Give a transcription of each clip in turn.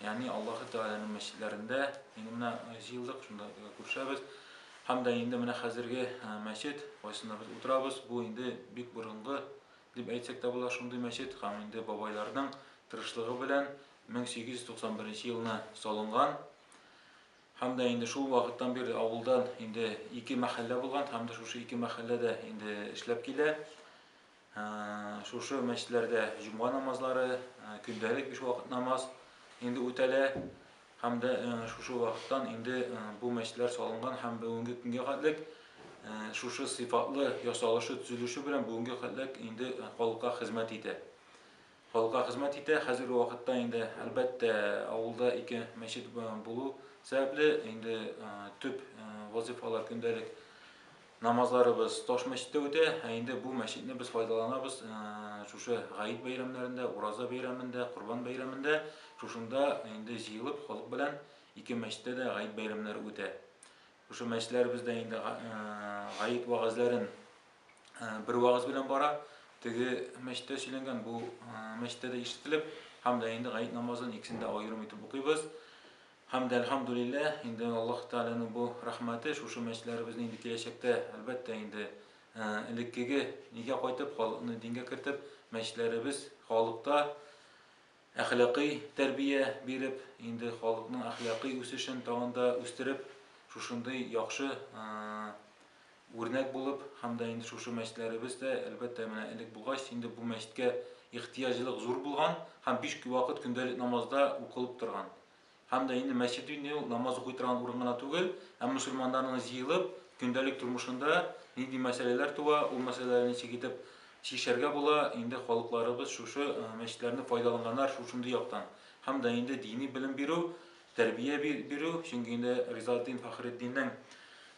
Ягъни Аллаһы Тәгаләнең мәчетләрендә, инде менә җыелдык, шунда күрешәбез. Һәм дә инде менә хәзерге мәчет, кайсында без утырабыз, бу инде бик борынгы дип әйтсәк тә була шундый мәчет һәм инде бабайларның тырышлыгы белән 1891 елны салынган. Һәм дә инде шул вакыттан бирле авылдан инде ике мәхәллә булган һәм дә шушы ике мәхәлләдә инде эшләп килә. Шушы мәчетләрдә җомга намазлары, көндәлек биш вакыт намаз инде үтәлә һәм дә шушы вакыттан инде бу мәчетләр салынган һәм бүгенге көнгә хәтлек шушы сыйфатлы ясалышы, төзелеше белән бүгенге хәтлек инде халыкка хезмәт итә. Халыкка хезмәт итә. Хәзерге вакытта инде, әлбәттә, авылда ике мәчет булу сәбәпле, инде төп вазыйфалар, көндәлек намазларыбыз таш мәчеттә үтә. Ә инде бу мәчетне без файдаланабыз шушы Гает бәйрәмнәрендә, Ураза бәйрәмендә, Корбан бәйрәмендә. Шушында инде җыелып, халык белән ике мәчеттә дә Гает бәйрәмнәре үтә. Шушы мәчетләребездә инде Гает вәгазьләрен Э, бер вагыз белән бара теге мәчеттә сөйләнгән бу э, мәчеттә дә ишетелеп һәм дә инде гает намазын икесен дә аерым итеп укыйбыз һәм дә әлхамдулилля инде аллаһ тәгаләнең бу рәхмәте шушы мәчетләребезне инде киләчәктә әлбәттә инде э, элеккеге нигә кайтып халыкны дингә кертеп мәчетләребез халыкта Әхлакый тәрбия биреп, инде халыкның әхлакый үсешен тагын да үстереп, шушындый яхшы үрнәк булып һәм дә инде шушы мәчетләребез дә, әлбәттә, менә элек булгач, инде бу мәчеткә ихтыяҗлылык зур булган һәм биш вакыт көндәлек намазда укылып торган. Һәм дә инде мәчет инде ул намаз укый торган урын гына түгел, ә мөселманнарның җыелып, көндәлек тормышында нинди мәсьәләләр туа, ул мәсьәләләрне ничек итеп чишәргә була, инде халыкларыбыз шушы мәчетләрне файдаланганнар шушындый яктан. Һәм дә инде дини белем бирү, тәрбия бирү, чөнки инде Ризаэтдин Фәхретдиннең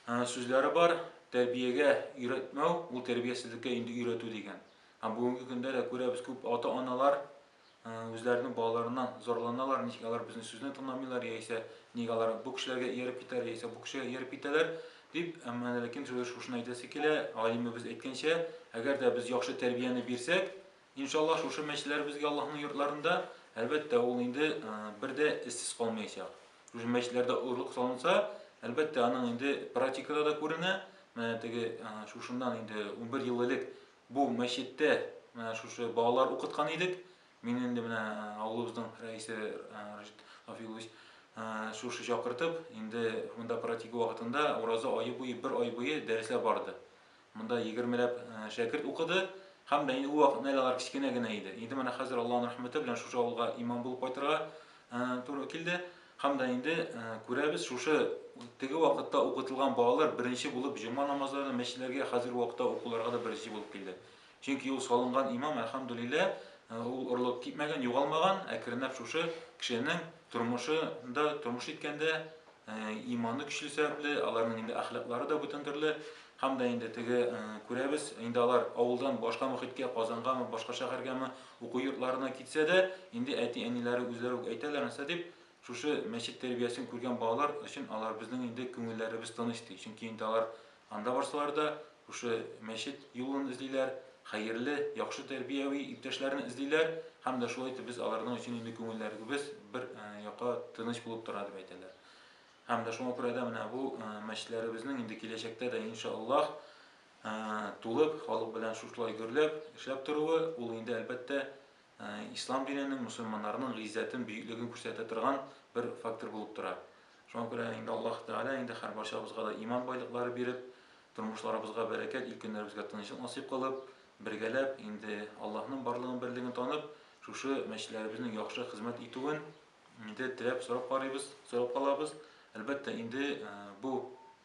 сүзләре бар, тәрбиягә өйрәтмәү, ул тәрбиясезлеккә инде өйрәтү дигән. Һәм бүгенге көндә дә күрәбез, күп ата-аналар, Үзләренең балаларыннан зарланалар, ничек алар безнең сүзне тыңламыйлар, яисә ник алар бу кешеләргә ияреп китәләр, яисә бу кешегә ияреп китәләр, дип, әмма ләкин сүз шушыны әйтәсе килә, галимебез әйткәнчә, әгәр дә без яхшы тәрбияне бирсәк, иншаллаһ, шушы мәчетләр безгә Аллаһның йортларында, әлбәттә, ул инде бер дә эзсез калмаячак. Шушы мәчетләрдә орлык салынса, әлбәттә, аның инде практикада да күренә. Менә теге шушыннан инде унбер ел элек Бу мәчеттә менә шушы балалар укыткан идек. Мин инде менә авылыбызның рәисе Рашид Рафикович шушы чакыртып, инде монда практика вакытында ураза ае буе, бер ай буе дәресләр барды. Монда егермеләп шәкерт укыды һәм дә инде ул вакыт Найлалар кечкенә генә иде. Инде менә хәзер Аллаһның рәхмәте белән шушы авылга имам булып кайтырга туры килде. Һәм дә инде күрәбез, шушы теге вакытта укытылган балалар беренче булып җома намазларына мәчетләргә, хәзерге вакытта укуларга да беренче булып килде. Чөнки ул салынган имам, әлхәмдүлиллә, ул орлык китмәгән, югалмаган, әкренләп шушы кешенең тормышында, тормыш иткәндә иманы көчле сәбәпле, аларның инде әхлаклары да бүтән төрле, һәм дә инде теге күрәбез, инде алар авылдан башка мөхиткә, Казангамы, башка шәһәргәме, уку йортларына китсә дә, инде әти-әниләре үзләре үк әйтәләр, нәрсә дип, шушы мәчет тәрбиясен күргән балалар өчен алар безнең инде күңелләребез тыныч ди, чөнки инде алар анда барсалар да, шушы мәчет юлын эзлиләр, хәерле, яхшы тәрбияви иптәшләрне эзлиләр һәм дә шулай итеп без аларның өчен инде күңелләребез бер якка тыныч булып тора дип әйтәләр. Һәм дә шуңа күрә дә менә бу мәчетләребезнең инде киләчәктә дә иншаллаһ тулып, халык белән шушылай гөрләп, эшләп торуы, ул инде, әлбәттә, ислам диненең, мөселманнарның гыйззәтен, бөеклеген күрсәтә торган бер фактор булып тора. Шуңа күрә инде Аллаһ Тәгалә инде һәрбарчабызга да иман байлыклары биреп, тормышларыбызга бәрәкәт, ил көннәребезгә тынычлык насыйп кылып, бергәләп, инде Аллаһның барлыгын, берлеген танып, шушы мәчетләребезнең яхшы хезмәт итүен инде теләп, сорап карыйбыз, сорап калабыз. Әлбәттә, инде бу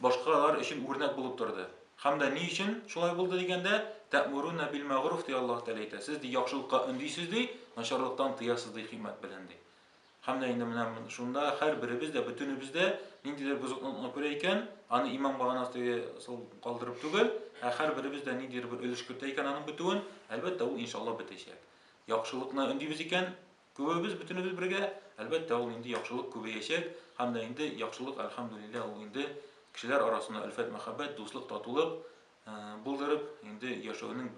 башкалар өчен үрнәк булып торды. Һәм дә ни өчен шулай булды дигәндә, Тә'муруна бил-мә'гъруф, ди Аллаһ Тәгалә әйтә, сез, ди, яхшылыкка өндисез, ди, начарлыктан тыясыз, ди, хикмәт белән, ди. Һәм дә инде менә шунда һәрберебез дә, бөтенебез дә ниндидер бозыклыкны күрә икән, аны имам баганасыга сул калдырып түгел, ә һәрберебез дә ниндидер бер өлеш кертә икән аның бетүен, әлбәттә, ул иншаллаһ бетәчәк. Яхшылыкны өндибез икән, Күбебез, бөтенебез бергә, әлбәттә, ул инде яхшылык күбәячәк, һәм дә инде яхшылык, әлхәмдүлилләһ, ул инде кешеләр арасына өлфәт-мәхәббәт, дуслык, татулык булдырып, инде яшәүнең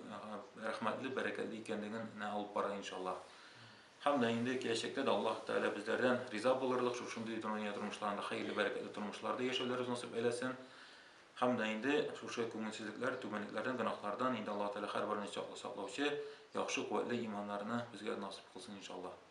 рәхмәтле, бәрәкәтле икәнлеген нә алып бара, иншаллаһ. Һәм дә инде киләчәктә дә Аллаһ Тәгалә безләрдән риза булырлык, шушындый дөнья тормышларында хәерле, бәрәкәтле тормышларда яшәүләребез насыйп әйләсен. Һәм дә инде шушы күңелсезлекләр, түбәнлекләрдән, гөнаһлардан инде Аллаһу Тәгалә һәрберебезне чаклы саклаучы, яхшы, куәтле иманнарны безгә насыйп кылсын, иншаллаһ.